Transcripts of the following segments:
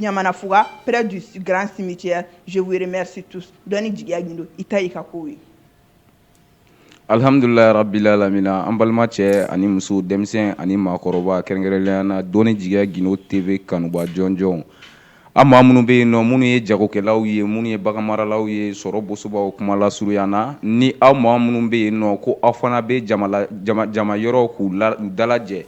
ɲamana fuga près du grand cimetière je vous remercie tous dɔni jigiya gindo i ta y'i ka kow ye alhamdulilayi rabbil alamina an balima cɛ ani muso denmisɛn ani maakɔrɔba kɛrɛnkɛrɛnnenya na dɔni jigiya gindo tv kanuba jɔnjɔnw an maa minnu bɛ yen nɔ minnu ye jagokɛlaw ye minnu ye baganmaralaw ye sɔrɔ bosobaw kuma lasurunya na ni aw maa minnu bɛ yen nɔ ko aw fana bɛ jama yɔrɔ k'u dalajɛ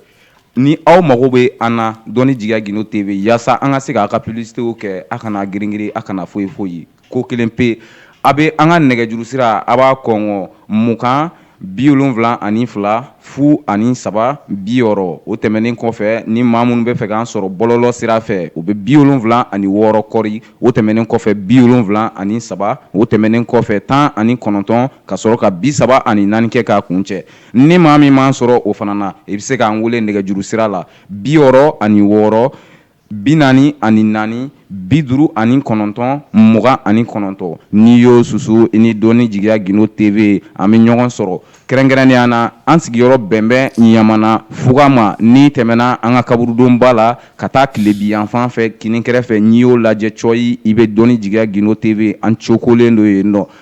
Ni aw mago bɛ an na dɔni jigiya gindo tv yaasa an ka se k'a ka publicitéw kɛ a kana giringirin a kana foyi foyi ko kelen pe a bɛ an ka nɛgɛjuru sira a b'a kɔngɔ mugan bi wolonwula ani fila fu ani saba bi wɔɔrɔ o tɛmɛnen kɔfɛ ni maa minnu bɛ fɛ k'an sɔrɔ bɔlɔlɔ sira fɛ o bɛ bi wolonwula ani wɔɔrɔ kɔɔri o tɛmɛnen kɔfɛ bi wolonwula ani saba o tɛmɛnen kɔfɛ tan ani kɔnɔntɔn ka sɔrɔ ka bi saba ani naani kɛ k'a kun cɛ ni maa min m'an sɔrɔ o fana na i bɛ se k'an wele nɛgɛjuru sira la bi wɔɔrɔ ani wɔɔrɔ bi naani ani naani bi duuru ani kɔnɔntɔn mugan ani kɔnɔntɔn n'i y'o susu i ni dɔni jigiya gindo tv an bɛ ɲɔgɔn sɔrɔ kɛrɛnkɛrɛnnenya na an sigiyɔrɔ bɛnbɛn ɲamana fuga ma n'i tɛmɛna an ka kaburudoba la ka taa tilebi yanfan fɛ kini kɛrɛfɛ n'i y'o lajɛ cɔyi i bɛ dɔni jigiya gindo tv an cokolen do yen nɔ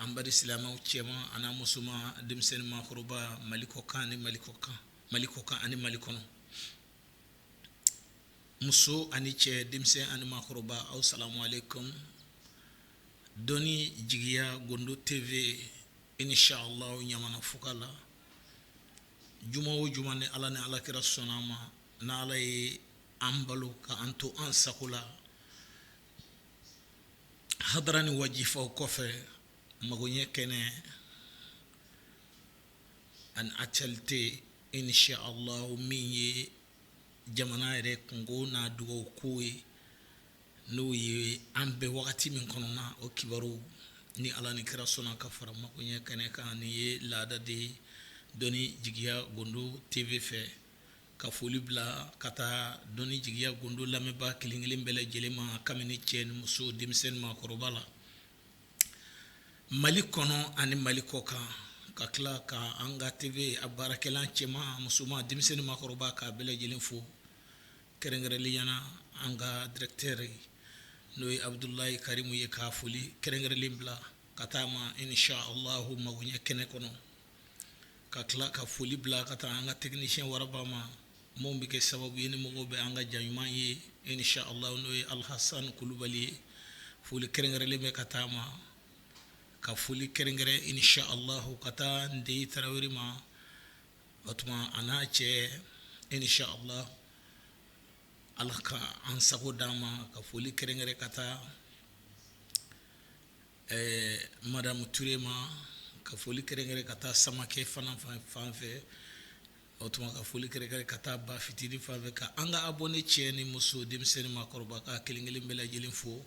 An baden silamɛw cɛman ani musoman denmisɛn ni makɔrɔba mali kɔkan ni mali kɔkan ani mali kɔnɔ muso ani cɛ denmisɛn ani makɔrɔba aw salamu aleykum dɔni jigiya gindo tv inchallah ɲamana fuga la juma o juma ni ala ni ala kira sɔnna ma n' ala ye an balo ka an to an sago la hadara ni wajifaw kɔfɛ magoɲɛ kɛnɛ ani actualité inchallah min ye jamana yɛrɛ kunko n'a dugawu ko ye n'o ye an bɛ wagati min kɔnɔna o kibaru ni Ala ni kira sɔnna ka fara magoɲɛ kɛnɛ kan ni ye laada de ye dɔnni jigiya gindo TV fɛ Ka foli bila ka taa dɔni jigiya gindo lamɛnba kelenkelen bɛɛ lajɛlen ma kabini cɛ ni muso denmisɛn ni maakɔrɔba la mali kɔnɔ ani mali kɔ kan ka tila ka an ka tv a baarakɛla cɛman musoman denmisɛn ni maakɔrɔba k'a bɛɛ lajɛlen fo kɛrɛnkɛrɛnliyana an ka directeur n'o ye abudulayi karimu ye ka foli kɛrɛnkɛrɛnlen bila ka taa a ma inchallah magoɲɛ kɛnɛ kɔnɔ ka tila ka foli bila ka taa an ka technicien waraba ma min bɛ kɛ sababu ye ni mɔgɔ bɛ an ka ja ɲuman ye inshallah n'o ye alahasani kulubali ye foli kɛrɛnkɛrɛnlen bɛ ka taa a ma ka foli kɛrɛnkɛrɛn inshallah ka taa ndeyi tarawele ma o tuma a n'a cɛ inshallah ala ka an sago d' an ma ka foli kɛrɛnkɛrɛn ka taa Ɛɛ madamu ture ma ka foli kɛrɛnkɛrɛn ka taa samakɛ fana fan fan fɛ o tuma ka foli kɛrɛnkɛrɛn ka taa ba fitini fan fɛ ka an ka abonné cɛ ni muso denmisɛn ni maakɔrɔba ka kelenkelen bɛɛ lajɛlen fo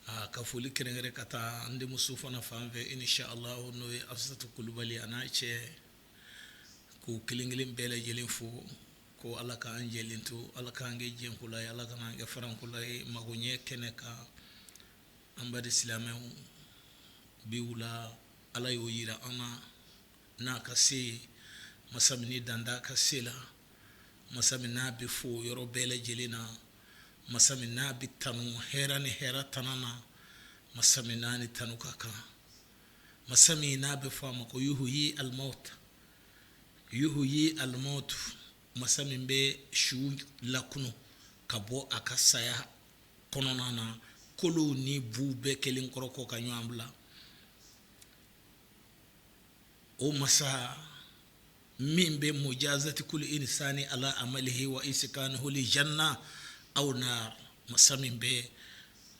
aa ka foli kɛrɛnkɛrɛn ka taa an denmuso fana fan fɛ inshallah n'o ye asatu kulubali a n'a cɛ k'u kelenkelen bɛɛ lajɛlen fo ko ala k'an jɛlen to ala k'an kɛ jɛnkula ala ka'an kɛ farankula ye magoɲɛ kɛnɛ kan An baden silamɛw bi wula ala y'o jira an na n'a ka se masa min dan t'a ka se la masa min n'a bɛ fo yɔrɔ bɛɛ lajɛlen na masa min n'a bɛ tanu hɛrɛ ni hɛrɛtana na masa min n'a ni tanu ka kan masa min n'a bɛ fɔ a ma ko yuhyi almawta yuhyi almawta masa min bɛ su lakunu ka bɔ a ka saya kɔnɔna na kolo ni bu bɛɛ kɛlen kɔrɔ kɔ ka ɲɔgɔn bila o masa min bɛ mujazati kulli insani ala amalihi wa iskanihi li janna aw nar masa min bɛ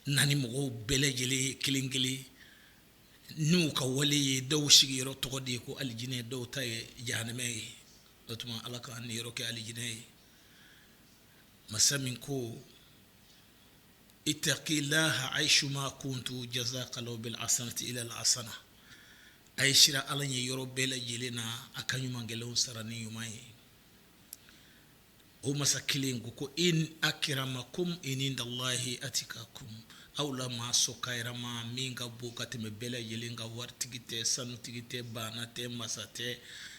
na ni mɔgɔw bɛɛ lajɛlen ye kelen kelen n'u ka wale ye dɔw sigiyɔrɔ tɔgɔ de ye ko alijinɛ dɔw ta ye jahanamɛ ye o tuma ala k'an niyɔrɔ kɛ alijinɛ ye masa min ko ittaqillaha haisuma kuntum jazakallahu bil hasanati ila al hasana a ye siran ala ɲɛ yɔrɔ bɛɛ lajɛlen na a ka ɲumankɛlaw sara ni ɲuman ye o masa kelen ko ko inna akramakum indallahi atikakum Aw la maa sɔn karama min ka bon ka tɛmɛ bɛɛ lajɛlen kan waritigi tɛ sanutigi tɛ baana tɛ masa tɛ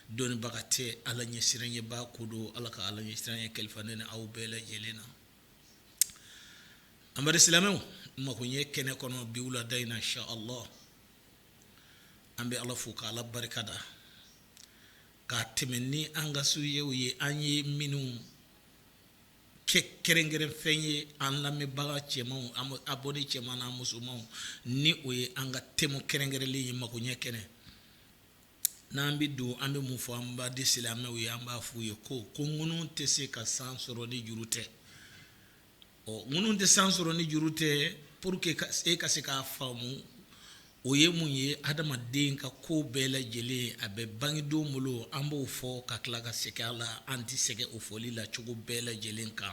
dɔnniibaga tɛ ala ɲɛsiranɲɛbaa ko don ala ka ala ɲɛsiranɲɛ kalifa ne ni aw bɛɛ lajɛlen na an baden silamɛw magoɲɛ kɛnɛ kɔnɔ bi wulada in na inshallah an bɛ ala fo k' ala barika da k'a tɛmɛ ni an ka sujetw ye an ye minnu kɛ kɛrɛnkɛrɛn fɛn ye an lamɛnbaga cɛmanw an abonné cɛman n'a musomanw ni o ye an ka thème kɛrɛnkɛrɛnlen ye magoɲɛ kɛnɛ n'an bɛ don an bɛ mun fɔ an baden silamɛw ye an b'a f'u ye ko ko ŋunu tɛ se ka san sɔrɔ ni juru tɛ ɔ ŋunu tɛ san sɔrɔ ni juru tɛ pour que e ka se k'a faamu O ye mun ye adamaden ka ko bɛɛ lajɛlen a bɛ bangedon bolo an b'o fɔ ka tila ka segin a la an tɛ sɛgɛn o fɔli la cogo bɛɛ lajɛlen kan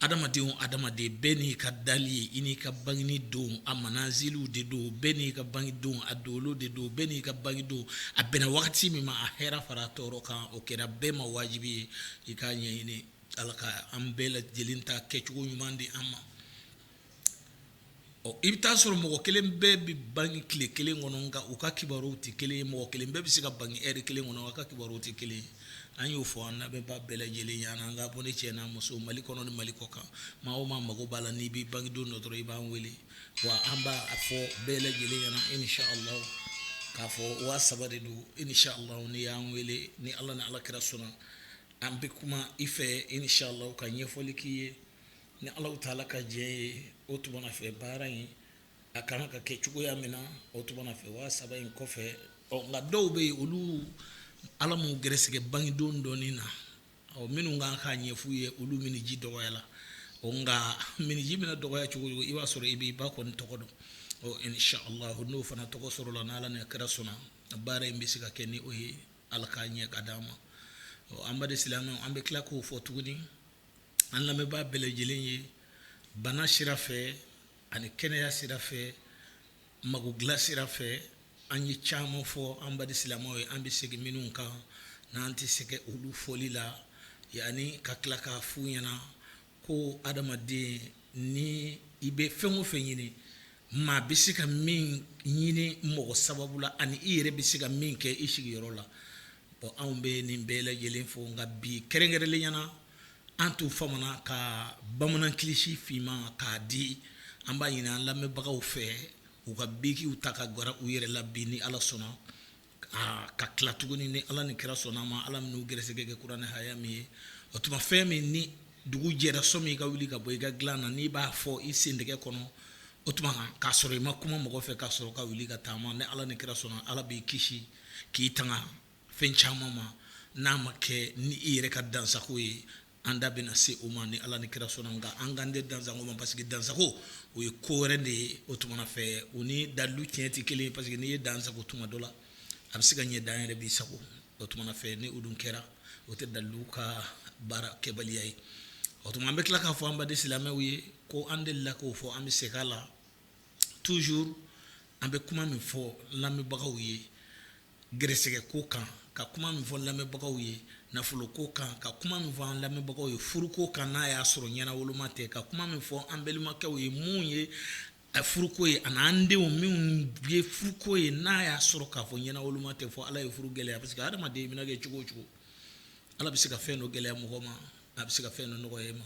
adamaden bɛɛ n'i ka dali ye i n'i ka bangeni don a manaziliw de don bɛɛ n'i ka bangedon a dolo de don bɛɛ n'i ka bangedon a bɛnna wagati min ma a hɛrɛ fara tɔɔrɔ kan o kɛra bɛɛ ma wajibi ye i k'a ɲɛɲini ala ka an bɛɛ lajɛlen ta kɛcogo ɲuman di an ma ɔ i bɛ taa sɔrɔ mɔgɔ kelen bɛɛ bɛ bange tile kelen kɔnɔ nka u ka kibaruyaw tɛ kelen ye mɔgɔ kelen bɛɛ bɛ se ka bange ɛri kelen kɔnɔ u ka kibaruyaw tɛ kelen ye an y'o fɔ an lamɛnbaa bɛɛ lajɛlen ɲɛna an ka abonné cɛ n'a muso mali kɔnɔ ni mali kɔkan maa o maa mago b'a la n'i b'i bangedon dɔn dɔrɔn i b'an wele wa an b'a fɔ bɛɛ lajɛlen ɲɛna inshallah k'a fɔ waa saba de don inshallah n'i y'an wele ni ala ni ala kira sɔnna an bɛ kuma i fɛ inshallah ka ɲɛfɔli k'i ye ni alahu taala ka diɲɛ ye o tuma na fɛ baara in a kan ka kɛ cogoya min na o tuma na fɛ waa saba in kɔfɛ ɔ nka dɔw bɛ yen olu ala m'u gɛrɛsɛgɛ bangedon dɔnni na ɔ minnu kan k'a ɲɛf'u ye olu miniji dɔgɔyala o nka miniji bɛna dɔgɔya cogo i b'a sɔrɔ i b'i ba kɔni tɔgɔ dɔn ɔ n'o fana tɔgɔ sɔrɔla n'ala ni kira sɔnna baara in bɛ se ka kɛ ni o ye ala k'a ɲɛ k'a di an ma ɔ an baden silamɛ an bɛ tila k'o fɔ tuguni an lamɛnbaa bɛɛ lajɛlen ye bana sira fɛ ani kɛnɛya sira fɛ mago dilan sira fɛ an ye caman fɔ an baden silamɛw ye an bɛ segin minnu kan n'an tɛ sɛgɛn olu fɔli la yanni ka tila k'a f'u ɲɛna ko adamaden ni i bɛ fɛn o fɛn ɲini Maa bɛ se ka min ɲini mɔgɔ sababu la ani i yɛrɛ bɛ se ka min kɛ i sigiyɔrɔ la bon anw bɛ nin bɛɛ lajɛlen fɔ nka bi kɛrɛnkɛrɛnlenya na an tun famana ka bamanan kilisi finman k'a di an b'a ɲini an lamɛnbagaw fɛ u ka bikiw ta ka gwara u yɛrɛ la bi ni ala sɔnna aa ka tila tuguni ni ala ni kira sɔnna ma ala minnu gɛrɛsɛgɛ kɛ kuranɛ haya min ye o tuma fɛ min ni dugu jɛra sɔgɔma i ka wuli ka bɔ i ka dilan na n'i b'a fɔ i sentɛgɛ kɔnɔ o tuma k'a sɔrɔ i ma kuma mɔgɔ fɛ k'a sɔrɔ ka wuli ka taama ni ala ni kira sɔnna ala b'i kisi k'i tanga fɛn caman ma n'a ma kɛ ni i yɛrɛ ka dansago ye An da bɛna se o ma ni ala ni kira sɔnna nka an kan tɛ dansago ma parce que dansago o ye ko wɛrɛ de ye o tuma fɛ o ni dalu tiɲɛ tɛ kelen ye parce que n'i ye dansago tuma dɔ la a bɛ se ka ɲɛ dan yɛrɛ b'i sago o tuma fɛ ni o dun kɛra o tɛ dalu ka baara kɛbaliya ye o tuma an bɛ tila k'a fɔ an baden silamɛw ye ko an delila k'o fɔ an bɛ segin a la toujours an bɛ kuma min fɔ lamɛnbagaw ye Gɛrɛsɛgɛ ko kan ka kuma min fɔ lamɛnbagaw ye nafolo ko kan ka kuma min fɔ an lamɛnbagaw ye furuko kan n'a y'a sɔrɔ ɲɛnawoloma tɛ ka kuma min fɔ an balimakɛw ye minnu ye furuko ye ani an denw minnu ye furuko ye n'a y'a sɔrɔ k'a fɔ ɲɛnawoloma tɛ fɔ ala ye furu gɛlɛya parce que hadamaden mana kɛ cogo o cogo ala bɛ se ka fɛn dɔ gɛlɛya mɔgɔ ma a bɛ se ka fɛn dɔ nɔgɔya i ma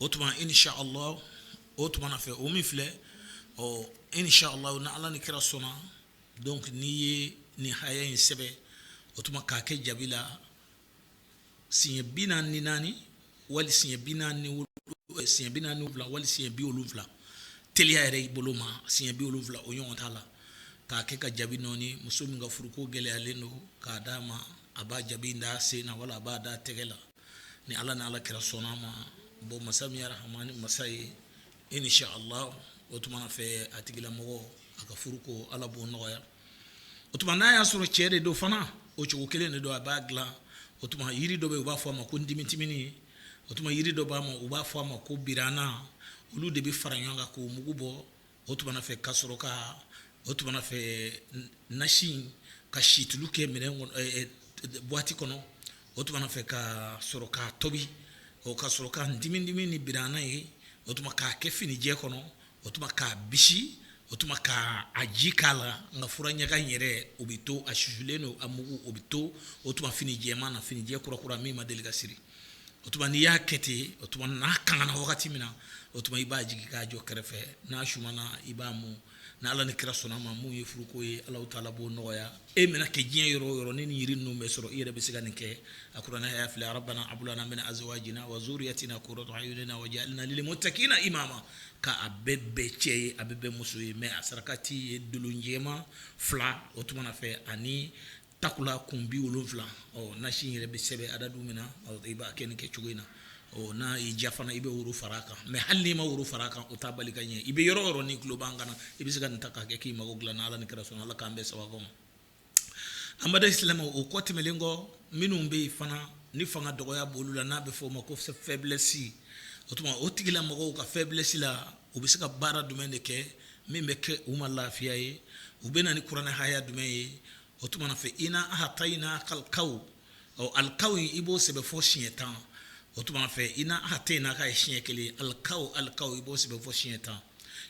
o tuma inshallah o tuma fɛ o min filɛ ɔ inshallah ni ala ni kira sɔnna donc n'i ye nin haya in sɛbɛ o tuma k'a kɛ jabi la siɲɛ bi naani ni naani wali siɲɛ bi naani wali siɲɛ bi wolonwula teliya yɛrɛ y'i bolo ma siɲɛ bi wolonwula o ɲɔgɔn t'a la k'a kɛ ka jabi nɔɔni muso min ka furuko gɛlɛyalen don k'a d'a ma a b'a jabi d'a sen na wala a b'a da a tɛgɛ la ni ala ni ala kira sɔnn'a ma bon masa min ye rahamani masa ye inshallah o tuma fɛ a tigilamɔgɔ a ka furuko ala b'o nɔgɔya o tuma n'a y'a sɔrɔ cɛ de don fana o cogo kelen de don a b'a dilan o tuma yiri dɔ bɛ u b'a fɔ a ma ko ndimitimini o tuma yiri dɔ b'a ma u b'a fɔ a ma ko birana olu de bɛ fara ɲɔgɔn kan k'o mugu bɔ o tuma fɛ ka sɔrɔ ka o tuma fɛ nasi ka situlu kɛ minɛn buwati kɔnɔ o tuma fɛ ka sɔrɔ k'a tobi o ka sɔrɔ ka ndimidimi ni birana ye o tuma k'a kɛ finijɛ kɔnɔ o tuma k'a bisi o tuma k'a ji k'a la nka fura ɲaga in yɛrɛ o bɛ to a susulen don a mugu o bɛ to o tuma fini jɛman na finijɛ kurakura min ma deli ka siri o tuma n'i y'a kɛ ten o tuma n'a kangana wagati min na o tuma i b'a jigin k'a jɔ kɛrɛfɛ n'a sumana i b'a mun ni Ala ni kira sɔnn'a ma mun ye furuko ye Alahu taala b'o nɔgɔya e mana kɛ diɲɛ yɔrɔ o yɔrɔ ni nin jiri ninnu bɛ sɔrɔ i yɛrɛ bɛ se ka nin kɛ a kuranɛ haya filɛ arabana abulana min azwajina wa zuriyatina kuratu ayunina wajalina lilmutakina imama ka a bɛɛ bɛɛ cɛ ye a bɛɛ bɛɛ muso ye mais a sarakati ye donon jɛman fila o tuma na fɛ ani takula kun bi wolonwula nasi yɛrɛ bɛ sɛbɛn adadu min na i b'a kɛ nin kɛ cogo in na ɔ n'a y'i diya fana i bɛ woro fara a kan mais hali n'i ma woro fara a kan o t'a bali ka ɲɛ i bɛ yɔrɔ o yɔrɔ n'i tulo b'an kan na i bɛ se ka nin ta k'a kɛ k'i mago dilan ala ni kira sɔnna ala k'an bɛɛ sababu ma an baden silamɛw o kɔ tɛmɛnlen kɔ minnu bɛ yen fana ni fanga dɔgɔya b'olu la n'a bɛ f'o ma ko faiblesse o tuma o tigilamɔgɔw ka faiblesse la u bɛ se ka baara jumɛn de kɛ min bɛ kɛ u ma lafiya ye u bɛ na ni kuranɛ haya jumɛn ye o tuma fɛ ina ahatayina kalikaw ɔ alikaw in i b'o sɛbɛn fɔ siɲɛ tan o tuma fɛ ina ahatayina ka ye siɲɛ kelen alikaw alikaw i b'o sɛbɛn fɔ siɲɛ tan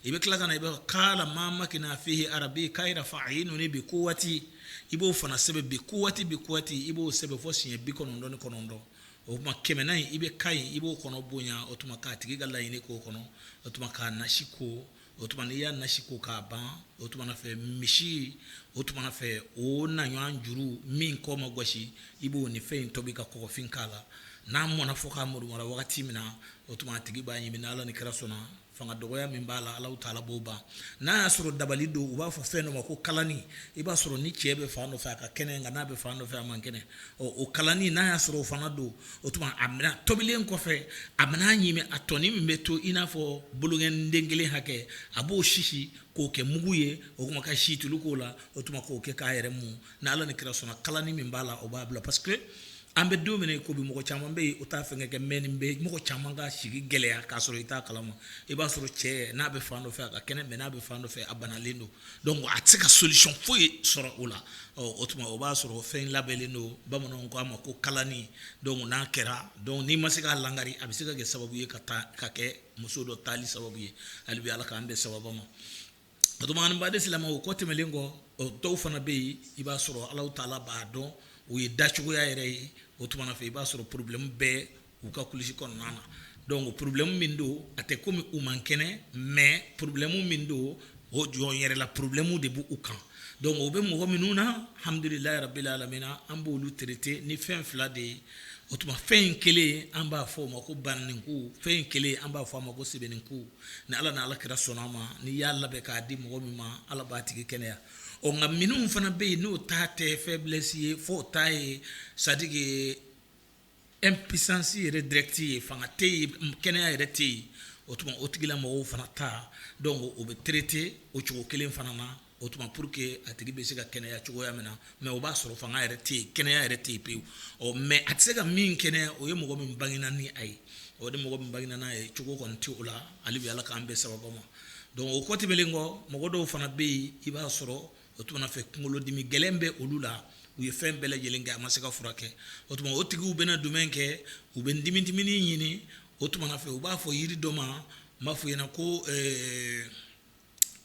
i bɛ tila ka na i bɛ kala maa makani fihi arabi kayiru fa ayinuni bi kuwati i b'o fana sɛbɛn bi kuwati bi kuwati i b'o sɛbɛn fɔ siɲɛ bi kɔnɔntɔn ni kɔnɔntɔn o tuma kɛmɛnan in i bɛ kayi i b'o kɔnɔ bonya o tuma k'a tigi ka laɲini k'o kɔnɔ o tuma k'a nasi ko o tuma n'i y'a nasi ko k'a ban o tuma fɛ misi o tuma fɛ o na ɲɔgɔn juru min kɔ ma gosi i b'o ni fɛn in tobi ka kɔgɔfin k'a la n'a mɔna fɔ k'a murumura wagati min na o tuma a tigi b'a ɲimi n'ala ni kira sɔnna fanga dɔgɔya min b'a la alahu taala b'o ban n'a y'a sɔrɔ dabali don u b'a fɔ fɛn dɔ ma ko kalani i b'a sɔrɔ ni cɛ bɛ fan dɔ fɛ a ka kɛnɛ nka n'a bɛ fan dɔ fɛ a man kɛnɛ o kalani n'a y'a sɔrɔ o fana don o tuma a mana tobilen kɔfɛ a mana ɲimi a tɔnin min bɛ to i n'a fɔ bolonkɔniden kelen hakɛ a b'o sisi k'o kɛ mugu ye o kuma ka situlu k'o la o tuma k'o kɛ k'a yɛrɛ mun ni ala ni kira sɔnna kalani min b'a la o b'a bila parce que an bɛ don min ko bi mɔgɔ caman bɛ yen o t'a fɛn kɛ mais nin bɛ mɔgɔ caman ka sigi gɛlɛya k'a sɔrɔ i t'a kalama i b'a sɔrɔ cɛ n'a bɛ fan dɔ fɛ a ka kɛnɛ mais n'a bɛ fan dɔ fɛ a banalen don donc a tɛ se ka solution foyi sɔrɔ o la o tuma o b'a sɔrɔ fɛn labɛnnen don bamananw k'a ma ko kalani donc n'a kɛra donc n'i ma se k'a lagari a bɛ se ka kɛ sababu ye ka taa ka kɛ muso dɔ taali sababu ye hali bi ala k'an bɛn sababu ma Baden silamɛw o kɔ tɛmɛnlen kɔ dɔw fana bɛ yen i b'a sɔrɔ alahu taala b'a dɔn u ye dacogoya yɛrɛ ye o tuma fɛ i b'a sɔrɔ problème bɛ u ka kulusi kɔnɔna na donc problème min don a tɛ kɔmi u man kɛnɛ mais problème min don o jɔn yɛrɛ la problème de b'u kan donc o bɛ mɔgɔ minnu na alhamdulilayi rabbil alamina an b'olu traiter ni fɛn fila de ye o tuma fɛn in kelen an b'a fɔ o ma ko bananinku fɛn in kelen an b'a fɔ a ma ko sɛbɛninku ni ala ni ala kira sɔnna a ma n'i y'a labɛn k'a di mɔgɔ min ma ala b'a tigi kɛnɛya ɔ nka minnu fana bɛ yen n'o ta tɛ faiblesse ye fɔ o ta ye c'est-à-dire impuissance yɛrɛ direct ye fanga tɛ yen kɛnɛya yɛrɛ tɛ yen o tuma o tigila mɔgɔw fana ta donc o bɛ traiter o cogo kelen fana na o tuma pour que a tigi bɛ se ka kɛnɛya cogoya min na mais o b'a sɔrɔ fanga yɛrɛ tɛ yen kɛnɛya yɛrɛ tɛ yen pewu ɔ mais a tɛ se ka min kɛnɛya o ye mɔgɔ min bangena ni a ye o de mɔgɔ min bangena n'a ye cogo kɔni tɛ o la hali bi ala k'an bɛn sababu ma donc o kɔ tɛmɛnen kɔ mɔgɔ dɔw fana bɛ yen i b'a sɔrɔ o tuma fɛ kunkolodimi gɛlɛn bɛ olu la u ye fɛn bɛɛ lajɛlen kɛ a ma se ka furakɛ o tuma o tigiw bɛna dɔ min kɛ u bɛ timitimini ɲini o tuma fɛ u b'a fɔ yiri dɔ ma n b'a fɔ i ɲɛna ko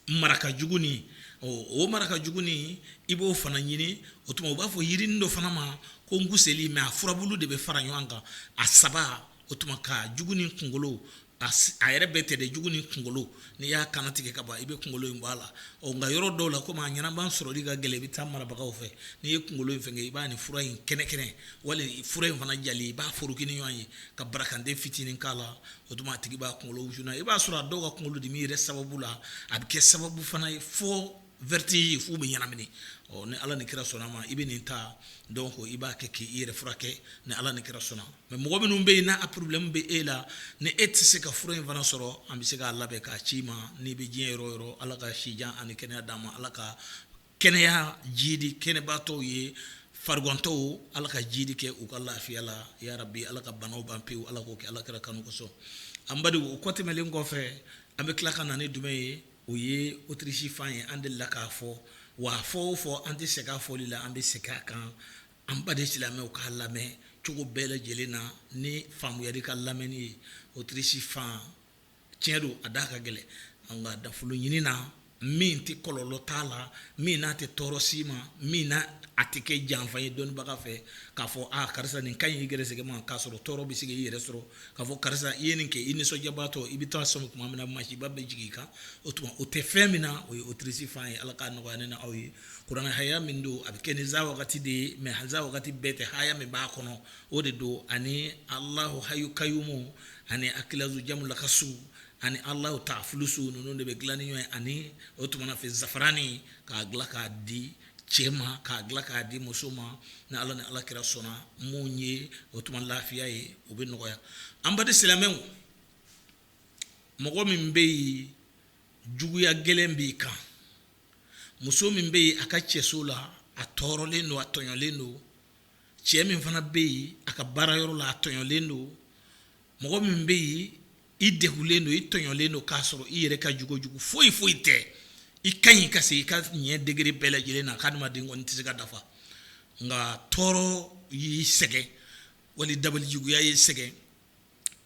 maraka juguni o maraka juguni i b'o fana ɲini o tuma u b'a fɔ yirini dɔ fana ma ko nkuseli mais a furabu de bɛ fara ɲɔgɔn kan a saba o tuma ka juguni kunkolo a yɛrɛ bɛɛ tɛ juguni kunkolo n'i y'a kannatigɛ ka ban i bɛ kunkolo in bɔ a la ɔ nka yɔrɔ dɔw la kɔmi a ɲɛnama sɔrɔli ka gɛlɛn i bɛ taa marabagaw fɛ n'i ye kunkolo in fɛngɛ i b'a ni fura in kɛnɛkɛnɛ wali fura in fana jalen i b'a foroki ni ɲɔgɔn ye ka barakanden fitinin' la o tuma a tigi b'a kunkolo wusuna i b'a sɔrɔ a dɔw ka kunkolo dimi yɛrɛ sababu la a bɛ kɛ sababu fana ye fo vertige ye f'u bɛ ɲɛnamini ɔ ni ala ni kira sɔnna ma i bɛ nin ta donc i b'a kɛ k'i yɛrɛ furakɛ ni ala ni kira sɔnna mɛ mɔgɔ minnu bɛ yen n'a porobilɛmu bɛ e la ni e tɛ se ka fura in fana sɔrɔ an bɛ se k'a labɛn k'a ci i ma n'i bɛ diɲɛ yɔrɔ o yɔrɔ ala ka sijan ani kɛnɛya d'an ma ala ka Kɛnɛya jidi kɛnɛbaatɔw ye farigantɔw ala ka jidi kɛ u ka lafiya la ya rabi ala ka bana ban pewu ala k'o kɛ ala kira kanu kosɔn an badenw o kɔ tɛmɛnnen kɔfɛ an bɛ tila ka na ni jumɛn ye o ye autruche fan ye an delila k'a fɔ wa fɔ o fɔ an tɛ sɛgɛn a fɔli la an bɛ segin a kan an baden silamɛw k'a lamɛn cogo bɛɛ lajɛlen na ni faamuyali ka lamɛnni ye autruche fan tiɲɛ don a da ka gɛlɛn nka nafolo ɲini na min tɛ kɔlɔlɔ t'a la min n'a tɛ tɔɔrɔ s'i ma min na a tɛ kɛ janfa ye dɔnnibaga fɛ k'a fɔ aa karisa nin ka ɲi i gɛrɛsɛgɛ ma k'a sɔrɔ tɔɔrɔ bɛ se k'i yɛrɛ sɔrɔ k'a fɔ karisa i ye nin kɛ i nisɔndiyabaatɔ i bɛ taa sɔmi tuma min na masiba bɛ jigin i kan o tuma o tɛ fɛn min na o ye autruche fan ye ala k'a nɔgɔya ne n'aw ye kuranɛ haya min don a bɛ kɛ ni iza wakati de ye mɛ iza wakati bɛɛ tɛ haya min b'a kɔnɔ o de don ani alahu hayu kayumu ani akilazu jamu lakasu ani alahu taafulusu ninnu de bɛ dilan ni ɲɔgɔn ye ani o tuma fɛ zafarani k'a dilan k'a di cɛ ma k'a dilan k'a di muso ma ni ala ni ala kira sɔnna min ye o tuma lafiya ye o bɛ nɔgɔya an baden silamɛw mɔgɔ min bɛ yen juguya gɛlɛn b'i kan muso min bɛ yen a ka cɛso la a tɔɔrɔlen don a tɔɲɔlen don cɛ min fana bɛ yen a ka baara yɔrɔ la a tɔɲɔlen don mɔgɔ min bɛ yen i degunlen don i tɔɲɔlen don k'a sɔrɔ i yɛrɛ ka jugu o jugu foyi foyi tɛ i ka ɲi ka se i ka ɲɛ degré bɛɛ lajɛlen na k'adamaden kɔni tɛ se ka dafa nka tɔɔrɔ y'i sɛgɛn wali dabali juguya y'i sɛgɛn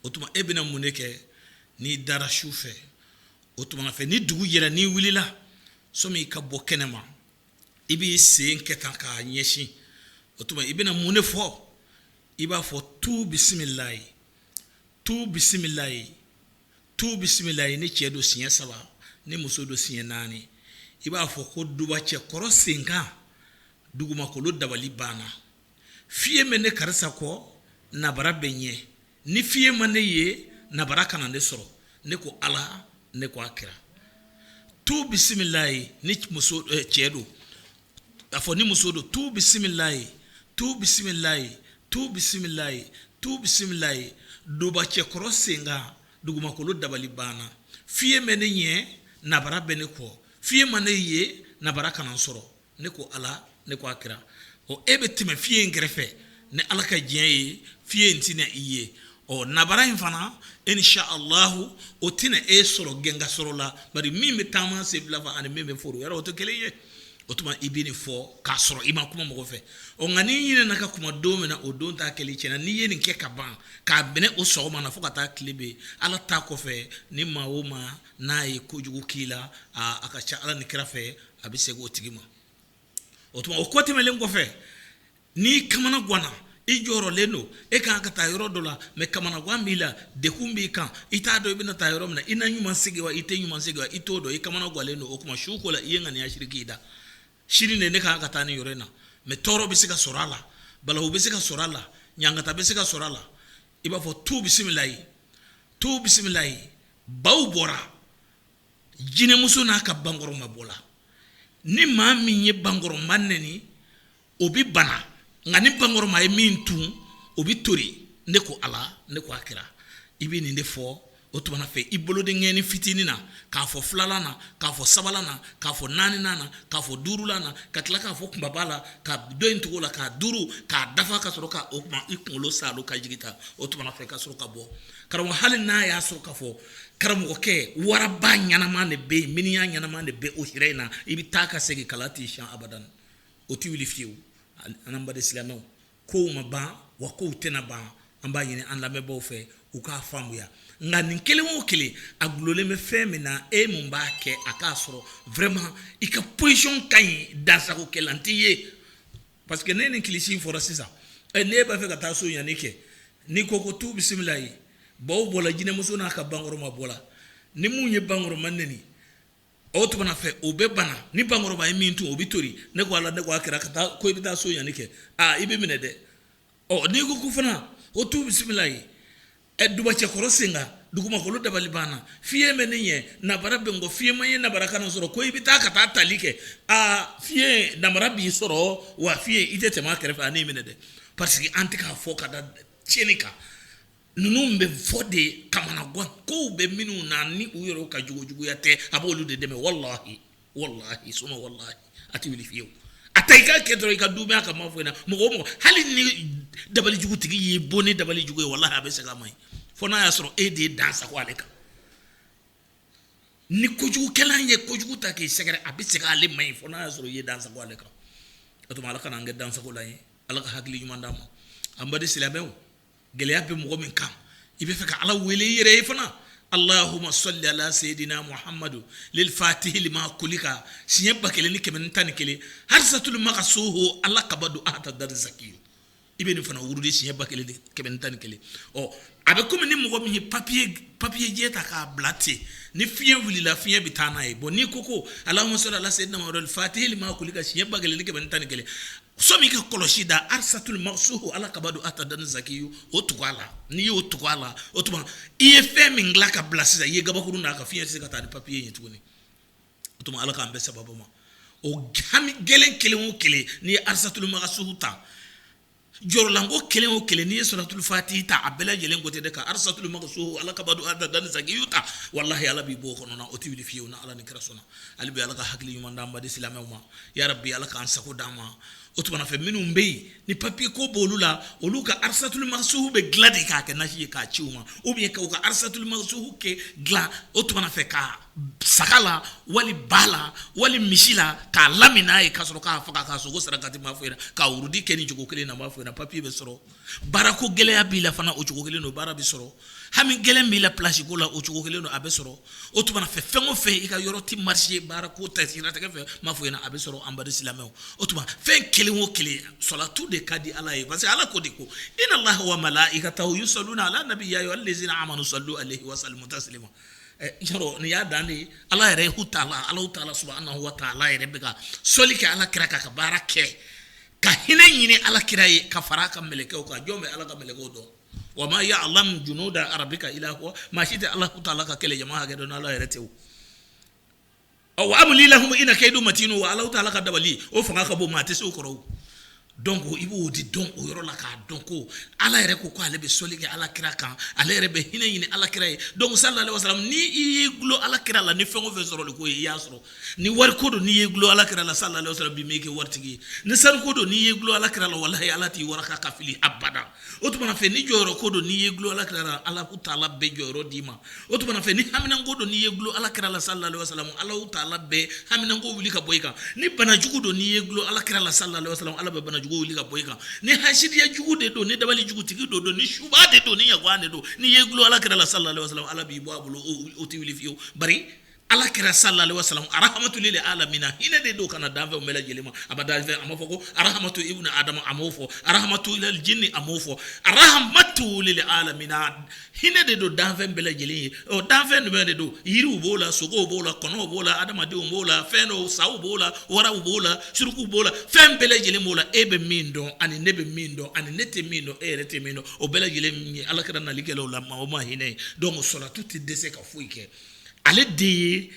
o tuma e bɛna mun de kɛ n'i dara su fɛ o tuma fɛ ni dugu jɛra n'i wulila sɔmi i ka bɔ kɛnɛ ma i b'i sen kɛ tan k'a ɲɛsin o tuma i bɛna mun de fɔ i b'a fɔ tu bisimilayi tu bisimilayi tu bisimilayi ni cɛ don siɲɛ saba ni muso don siɲɛ naani i b'a fɔ ko duba cɛ kɔrɔ senkan dugumakolo dabali banna fiyen bɛ ne karisa kɔ nabara bɛ ɲɛ ni fiyen ma ne ye nabara kana ne sɔrɔ ne ko ala ne ko a kira tu bisimilayi ni muso eh, cɛ don a fɔ ni muso don tu bisimilayi tu bisimilayi tu bisimilayi tu bisimilayi duba cɛ kɔrɔ senkan dugumakolo dabali banna fiyen bɛ ne ɲɛ nabara bɛ ne kɔ fiyen ma ne ye nabara kana sɔrɔ ne ko ala ne ko a kira ɔ e bɛ tɛmɛ fiɲɛ in kɛrɛfɛ ni ala ka diɲɛ ye fiɲɛ in tɛna i ye ɔ nabara in fana insha allahu o tɛna e sɔrɔ gɛnka sɔrɔ la bari min bɛ taama senfila fɛ ani min bɛ foro yɔrɔ o tɛ kelen ye o tuma i bɛ nin fɔ k'a sɔrɔ i ma kuma mɔgɔ fɛ ɔ nka n'i ɲinɛna ka kuma don min na o don ta kɛli tiɲɛna n'i ye nin kɛ ka ban k'a minɛ o sɔgɔma na fo ka taa tile bin ala ta kɔfɛ ni maa o maa n'a ye kojugu k'i la a ka ca ala ni kira fɛ a bɛ segin o tigi ma o tuma o kɔtɛmɛlen kɔfɛ n'i kamana ganna i jɔrɔlen don e ka kan ka taa yɔrɔ dɔ la mɛ kamanagan b'i la degun b'i kan i t'a dɔn i bɛna taa yɔrɔ min na i na ɲuman segin wa i tɛ ɲuman segin wa i t'o dɔn i kamana gannen don o tuma su ko la i ye ŋaniya siri k'i da sini de ne ka kan ka taa nin yɔrɔ in na mɛ tɔɔrɔ bɛ se ka sɔrɔ a la balawu bɛ se ka sɔrɔ a la ɲangata bɛ se ka sɔrɔ a la i b'a fɔ tu bisimilayi tu bisimilayi baw bɔra jinɛmuso n'a ka bankɔrɔma bɔla ni maa min ye bankɔrɔma neni o bɛ bana nka ni bankɔrɔma ye min tu o bɛ toli ne ko ala ne ko a kira i bɛ nin de fɔ o tuma fɛ i bolodenkɛnin fitinin na k'a fɔ filanan na k'a fɔ sabanan na k'a fɔ naani na k'a fɔ duurula na ka tila k'a fɔ kunbaba la ka dɔ in tugu a la k'a duuru k'a dafa ka sɔrɔ k' o tuma i kunkolo saalo ka jigin ta o tuma fɛ ka sɔrɔ ka bɔ karamɔgɔ hali n'a y'a sɔrɔ ka fɔ karamɔgɔkɛ waraba ɲɛnama de bɛ yen miniya ɲɛnama de bɛ o hira in na i bɛ taa ka segin kala t'i siyɛn abada o tɛ wuli fiyewu an baden silamɛw ko ma ban wa ko tɛna ban an b'a ɲini an lamɛnbagaw fɛ u k'a faamuya nka nin kelen o kelen a gulɔlen bɛ fɛn min na e min b'a kɛ a k'a sɔrɔ vraiment i ka position ka ɲi dansagokɛla t'i ye Parce que ne ni kilisi in fɔra sisan ɛ n'i b'a fɛ ka taa sonyali kɛ n'i ko ko tu bisimilayi baw bɔla jinɛmuso n'a ka bankɔrɔma bɔla ni min ye bankɔrɔma neni o tuma fɛ o bɛ bana ni bankɔrɔba ye min tu o bɛ toli ne ko ala ne ko a kira ka taa ko i bɛ taa sonyali kɛ aa i bɛ minɛ dɛ ɔ n'i ko ko fana o tu bisimilayi ɛ dubacɛkɔrɔ sen kan dugumakolo dabali banna fiɲɛ bɛ ne ɲɛ nabara bɛ n kɔ fiɲɛ ma n ye nabara kana n sɔrɔ ko i bɛ taa ka taa tali kɛ aa fiɲɛ nabara b'i sɔrɔ wa fiɲɛ i tɛ tɛmɛ a kɛrɛfɛ a n'i minɛ dɛ parce que an tɛ k'a fɔ ka da tiɲɛni kan Ninnu bɛ fɔ de kamanagankow bɛ minnu na ni u yɛrɛ ka juguya tɛ a b' olu de dɛmɛ walayi suma walayi a tɛ wuli fiyewu a taa i ka kɛ dɔrɔn i ka dubayaya ka ma foyi na mɔgɔ ma hali ni dabalijugutigi y'i bɔn ni dabalijugu ye walayi a bɛ se ka ma ɲi fo n'a y'a sɔrɔ e de ye dansago ale kan ni kojugukɛla ye kojugu ta k'i sɛgɛrɛ a bɛ se k' ale ma ɲi fo n'a y'a sɔrɔ i ye dansago ale kan o tuma ala kana an kɛ dansagola ye ala ka hakili ɲuman d'an ma an baden silamɛ gɛlɛya bɛ mɔgɔ min kan i b'a fɛ ka ala wele i yɛrɛ ye fana alahuma sɔli ala seyidina mahamadu lifatihi lima ugulika siɲɛ ba kelen ni kɛmɛ ni tan ni kelen arisatuli makisuhu ala kabadu atadan zakiyu i bɛ nin fana wurudi siɲɛ ba kelen kɛmɛ ni tan ni kelen ɔ a bɛ kɔmi ni mɔgɔ min ye papiye papiyejɛ ta k'a bila ten ni fiɲɛ wulila fiɲɛ bɛ taa n'a ye bon n'i ko ko alahuma sɔli ala seyidina mahamadu lifatihi lima ugulika siɲɛ ba kelen ni kɛmɛ tan ni kelen Sani i ka kɔlɔsi da arisatuli makisuhu ala kabadu atadan zakiyu o tugu a la n'i y'o tugu a la o tuma i ye fɛn min dilan k'a bila sisan i ye kabakuru d'a kan fiɲɛ tɛ se ka taa ni papiye ye tuguni o tuma ala k'an bɛn sababu ma o hami gɛlɛn kelen o kelen n'i ye arisatuli makisuhu ta jɔrɔnanko kelen o kelen n'i ye sɔlatulifatihi ta a bɛɛ lajɛlen ko tɛ de ka arisatuli makisuhu ala kabadu atadan zakiyu ta walahi ala b'i bɔ o kɔnɔ o tɛ bin fiyewu ni ala ni kira sɔnna hali bi ala ka hakili ɲuman di an baden silamɛw ma ya rabbi ala k'an sago d'an ma o tumana fɛ minnu bɛ yen ni papiye ko b'olu la olu ka arisatuli makisuhu bɛ dilan de k'a kɛ nasi ye k'a ci u ma u bɛ ka u ka arisatuli makisuhu kɛ dilan o tumana fɛ ka saga la wali ba la wali misi la k'a lamin n'a ye ka sɔrɔ k'a faga k'a sogo sarakati n b'a fɔ i ɲɛna k'a wurudi kɛ nin cogo kelen na n b'a fɔ i ɲɛna papiye bɛ sɔrɔ baara ko gɛlɛya b'i la fana o cogo kelen don baara bɛ sɔrɔ hami gɛlɛn b'i la plasi ko la o cogo kelen don a bɛ sɔrɔ o tuma fɛ fɛn o fɛn i ka yɔrɔ tɛ marise baara ko ta siratigɛ fɛ n b'a fɔ i ɲɛna a bɛ sɔrɔ an baden silamɛw o tuma fɛn kelen o kelen sɔlatu de ka di ala ye parce que ala ko de ko inalaha wa malayikatahu yusaluna ala nabiyi ya ayuha lazina amanu salu aleyihi wa salimu tasilima yɔrɔ nin y'a dan de ala yɛrɛ taala ala taala subuhanahu wa taala yɛrɛ bɛ ka sɔli kɛ ala kira kan ka baara kɛ ka hinɛ ɲini ala kira ye ka fara a ka mɛlɛkɛw kan jɔn bɛ ala ka mɛlɛkɛw dɔn wa ma yalamu junuda rabika ila huwa maa si tɛ ala taala ka kɛlɛ jama hakɛ dɔn ala yɛrɛ tɛ wa umuli lahum ina keyidi matinu wa ala taala ka dabali o fanga ka bon maa tɛ se o kɔrɔ donc i b'o de dɔn o yɔrɔ la k'a dɔn ko ala yɛrɛ ko ko ale bɛ sɔli kɛ ala kira kan ale yɛrɛ bɛ hinɛ ɲini ala kira ye donc salalahu aleyihi wasalama n' i y'i dulon ala kira la ni fɛn o fɛn sɔrɔ de ko i y'a sɔrɔ ni wari ko don n'i y'i dulon ala kira la salalahu aleyihi wasalama bi min kɛ waritigi ni sanu ko don n'i y'i dulon ala kira la walahi ala t'i wara k'i fili abada o tuma fɛ ni jɔyɔrɔ ko don n'i y'i dulon ala kira la ala taala bɛ jɔyɔrɔ d'i ma o tuma fɛ ni haminanko don n'i y'i dulon ala kira la salalahu aleyihi wasalama ala taala bɛ haminanko wuli ka bɔ i kan ni banajugu don n'i y'i dulon ala kira la salalahu aleyihi wasalama ala bɛ banajugu wuli ka bɔ i kan ni hasidiya jugu de don ni dabali jugutigi don don ni suba de don ni ɲagwan de don n'i y'i dulon ala kira la salalahu aleyihi wasalama ala b'i bɔ a bolo o tɛ wuli fiye Ala kira sallallahu alayhi wasallam aramatu lil alamina hinɛ de don ka na danfɛnw bɛɛ lajɛlen ma a dan a m'a fɔ ko aramatu ibnu adam a m'o fɔ aramatu lil jinni a m'o fɔ aramatu lil alamin hinɛ de don danfɛn bɛɛ lajɛlen ye o danfɛn jumɛn de don yiriw b'o la sogow b'o la kɔnɔw b'o la adamadenw b'o la fɛn dɔw saw b'o la waraw b'o la suruku b'o la fɛn bɛɛ lajɛlen b'o la e bɛ min dɔn ani ne bɛ min dɔn ani ne tɛ min dɔn e yɛrɛ tɛ min dɔn o bɛɛ lajɛlen min ye ala kira nali kɛla u la maa o ma hinɛ ye donc salatu tɛ dɛsɛ ka foyi kɛ ale de ye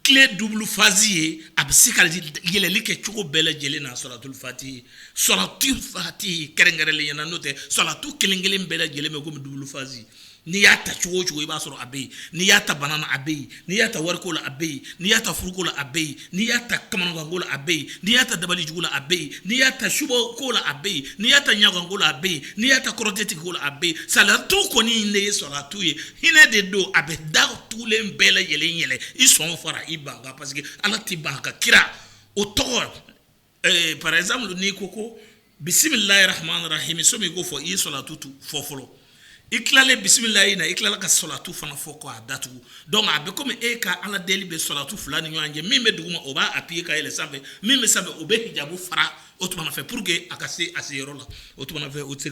clé double face ye a bɛ se ka yɛlɛli kɛ cogo bɛɛ lajɛlen na salatul fati salatul fati kɛrɛnkɛrɛnlenya na n'o tɛ salatu kelen- kelen bɛɛ lajɛlen bɛ kɔmi double face n'i y'a ta cogo o cogo i b'a sɔrɔ a bɛ yen n'i y'a ta bana na a bɛ yen n'i y'a ta wariko la a bɛ yen n'i y'a ta furuko la a bɛ yen n'i y'a ta kamanaganko la a bɛ yen n'i y'a ta dabali jugu la a bɛ yen n'i y'a ta subɔ ko la a bɛ yen n'i y'a ta ɲaganko la a bɛ yen n'i y'a ta kɔrɔteti ko la a bɛ yen salatu kɔni in de ye salatu ye hinɛ de don a bɛ da tugulen bɛɛ lajɛlen yɛlɛ i sɔn fara i ban kan parce que ala tɛ ban ka kira o tɔgɔ Ee par exemple n'i ko ko bisimilahi rahamani rahimi sani i k'o fɔ i ye salatu dɔ fɔ fɔlɔ i tilalen bisimilayi in na i tilala ka salatu fana fɔ k'a datugu donc a bɛ komi e ka ala deli bɛ salatu fila ni ɲɔgɔn cɛ min bɛ duguma o b'a appuyer ka yɛlɛ sanfɛ min bɛ sanfɛ o bɛ hijabu fara o tuma fɛ pour que a ka se a se yɔrɔ la o tuma fɛ o tɛ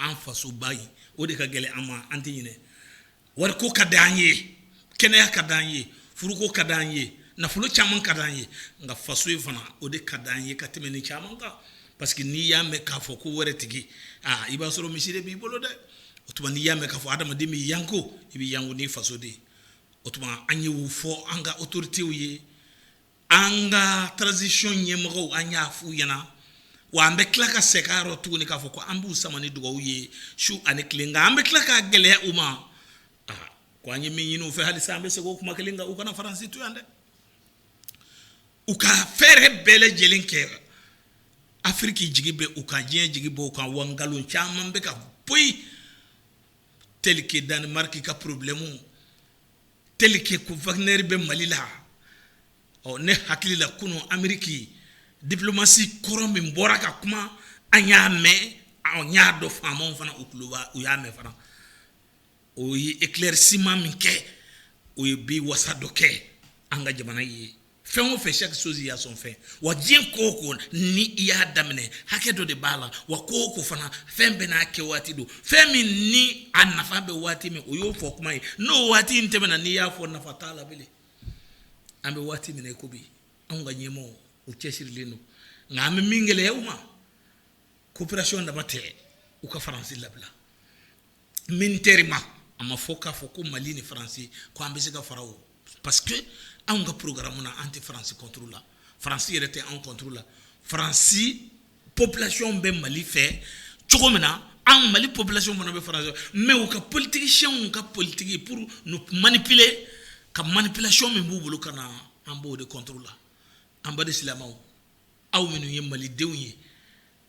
an fasoba in o de ka gɛlɛn an ma an tɛ ɲinɛ wari ko ka di an ye kɛnɛya ka di an ye furuko ka di an ye nafolo caman ka di an ye nka faso in fana o de ka di an ye ka tɛmɛ ni caman kan parce que n'i y'a mɛn k'a fɔ ko wɛrɛ tigi aa i b'a sɔrɔ misi de b'i bolo dɛ o tuma n'i y'a mɛn k'a fɔ hadamaden bɛ yanko i bɛ yanko n'i faso de ye o tuma an y'o fɔ an ka autorités ye An ka transition ɲɛmɔgɔw an y'a fɔ u ɲɛna wa an bɛ tila ka segin a rɔ tuguni k'a fɔ ko an b'u sama ni dugawu ye su ani tile nka an bɛ tila k'a gɛlɛya u ma ko an ye min ɲini u fɛ halisa an bɛ segin o kuma kelen kan u kana faransi to yan dɛ u ka fɛɛrɛ bɛɛ lajɛlen kɛ afiriki jigi bɛ u kan diɲɛ jigi b'u kan wa nkalon caman bɛ ka poyi tel que Danemark ka problème tel que ko Wagner bɛ mali la ɔ ne hakilila kunun ameriki diplomatie kɔrɔ min bɔra ka kuma an y'a mɛn an y'a dɔn faama fana u tuloba u y'a mɛn fana o ye éclaircissement min kɛ o ye bi wasa dɔ kɛ an ka jamana ye fɛn o fɛn chaque chose y a son fin wa diɲɛ ko o ko ni i y'a daminɛ hakɛ dɔ de b'a la wa ko o ko fana fɛn bɛɛ n'a kɛ waati don fɛn min ni a nafa bɛ waati min o y'o fɔ kuma ye n'o waati in tɛmɛna n'i y'a fɔ nafa t'a la bilen an bɛ waati min na i ko bi anw ka ɲɛmɔgɔw u cɛsirilen don nka an bɛ min gɛlɛya u ma coopération dama tɛ u ka faransi labila militairement a ma fɔ k'a fɔ ko mali ni faransi ko an bɛ se ka fara o parce que anw ka porogaramu na an tɛ faransi contre la faransi yɛrɛ tɛ anw contre la faransi population bɛ mali fɛ cogo min na an mali population fana bɛ faransi mais u ka politicienw ka politigi pour manipuler ka manipulation min b'u bolo ka na an b'o de contre la an baden silamɛw aw minnu ye malidenw ye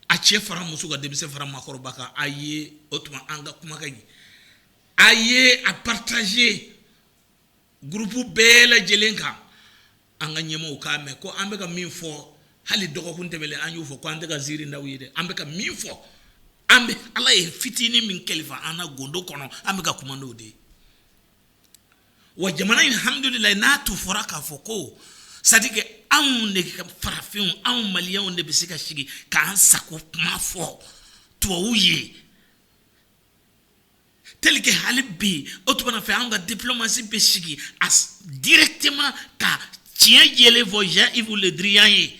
a cɛ fara muso kan denmisɛn fara makɔrɔba kan a ye o tuma an ka kumakan in a ye a partager groupe bɛɛ lajɛlen kan an ka ɲɛmaaw k'a mɛn ko an bɛka min fɔ hali dɔgɔkun tɛmɛnen an y'o fɔ ko an tɛ ka ziirin da aw ye dɛ an bɛka min fɔ an bɛ ala ye fitinin min kalifa an na gundo kɔnɔ an bɛka kuma' de ye wa jamana in alhamdulilahi n'a tun fɔra k'a fɔ ko c'est-à-dire que anw de ka farafinw anw maliyɛnw de bɛ se ka sigi k'an sago kuma fɔ tubabu ye tel que hali bi o tuma fɛ an ka diplomasi bɛ sigi a directement ka tiɲɛ jɛlen fɔ Jean Yves Le Drian ye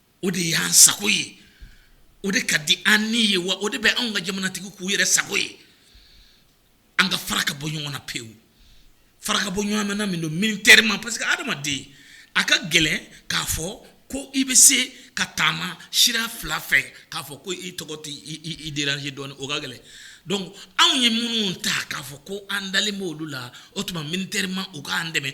o de y'an sago ye o de ka di an ni ye wa o de bɛ anw ka jamanatigiw k'u yɛrɛ sago ye an ka fara ka bɔ ɲɔgɔn na pewu fara ka bɔ ɲɔgɔn na mana min don militairement parce que hadamaden a ka gɛlɛn k'a fɔ ko i bɛ se ka taama sira fila fɛ k'a fɔ ko i tɔgɔ t'i déranger dɔɔnin o ka gɛlɛn donc anw ye minnu ta k'a fɔ ko an dalen b' olu la o tuma militairement u k'an dɛmɛ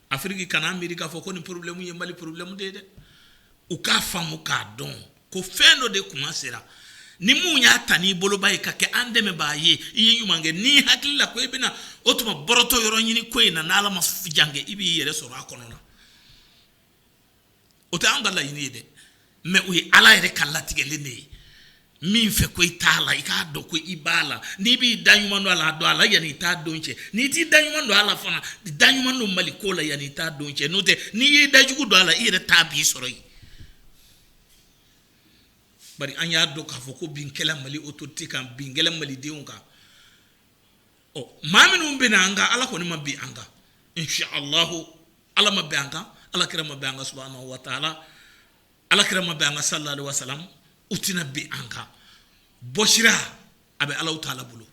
afiriki kana miiri k'a fɔ ko nin porobilɛmu ye mali porobilɛmu de ye dɛ u k'a faamu k'a dɔn ko fɛn dɔ de kuma sera ni min y'a ta n'i boloba ye ka kɛ an dɛmɛbaa ye i ye ɲuman kɛ n'i hakili la ko i bɛna o tuma bɔrɔtɔ yɔrɔ ɲini ko in na n'ala ma jan kɛ i b'i yɛrɛ sɔrɔ a kɔnɔ na o tɛ an ka laɲini ye dɛ mais o ye ala yɛrɛ ka latigɛlen de ye min fɛ ko i t'a la i k'a dɔn ko i b'a la n'i b'i da ɲuman don a la don a la yanni i ta don cɛ n'i t'i da ɲuman don a la fana da ɲuman don mali ko la yanni i ta don cɛ n'o tɛ n'i y'i da jugu don a la i yɛrɛ ta b'i sɔrɔ yen bari an y'a dɔn k'a fɔ ko bin kɛla mali autorités kan bin kɛla malidenw kan ɔ maa minnu binna an kan ala kɔni ma bin an kan inchallah ala ma bin an kan ala kira ma bin an kan subhanahu wa ta'ala ala kira ma bin an kan sallallahu alaihi wasallam u tɛna bin an kan bɔsira a bɛ ala ta'ala bolo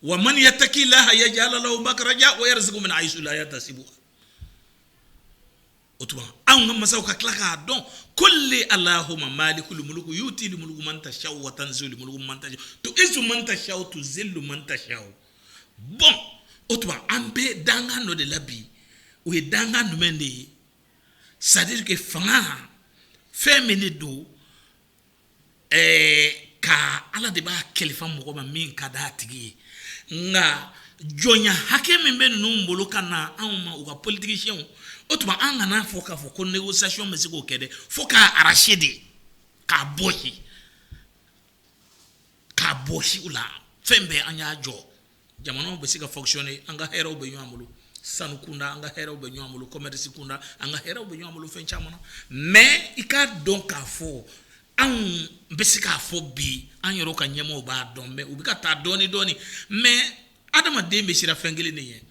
wa man yattaki llaha yaj'al lahu makhrajan wa yarzuqhu min haythu la yahtasib o tuma anw ka masaw ka tila k'a dɔn kuli allahumma malikul mulku yutil mulku man tasha wa tanzil mulku man tasha tuizu man tasha tuzilu man tasha bon o tuma an bɛ dankan dɔ de la bi o ye dankan jumɛn de ye c'est-à-dire que fanga fɛn min de don ɛɛ ka Ala de b'a kalifa mɔgɔ ma min ka d'a tigi ye, nka jɔnya hakɛ min bɛ ninnu bolo ka na anw ma u ka politiciens o tuma an kan'a fɔ k'a fɔ ko négociation bɛ se k'o kɛ dɛ, fo k'a arracher de, k'a bɔsi, k'a bɔsi u la, fɛn bɛɛ an y'a jɔ. jamanaw bɛ se ka fonctionner an ka hɛrɛw bɛ ɲɔgɔn bolo sanu kunda an ka hɛrɛw bɛ ɲɔgɔn bolo commerce kunda an ka hɛrɛw bɛ ɲɔgɔn bolo fɛn caman na mais i k'a dɔn k'a fɔ anw bɛ se k'a fɔ bi an yɛrɛ ka ɲɛmɔgɔw b'a dɔn mais u bɛ ka taa dɔɔnin dɔɔnin mais adamaden bɛ siran fɛn kelen de ɲɛ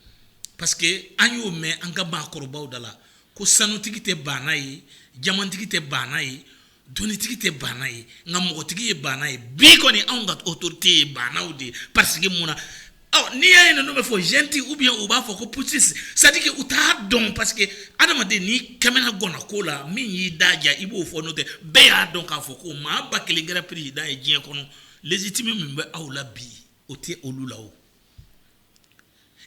parce que an y'o mɛn an ka maakɔrɔbaw da la ko sanutigi tɛ baana ye jamantigi tɛ baana ye Donitigi tɛ baana ye nka mɔgɔtigi ye baana ye bi kɔni anw ka autorités ye baanaw de ye parce que mun na n'i y'a ye n'u bɛ fɔ junte ou bien u b'a fɔ ko putschistes c'est-à-dire que u t'a dɔn parce que adamaden n'i kamana gwanna ko la min y'i da diya i b'o fɔ n'o tɛ bɛɛ y'a dɔn k'a fɔ ko maa ba kelen kɛra président ye diɲɛ kɔnɔ légitime min bɛ aw la bi o tɛ olu la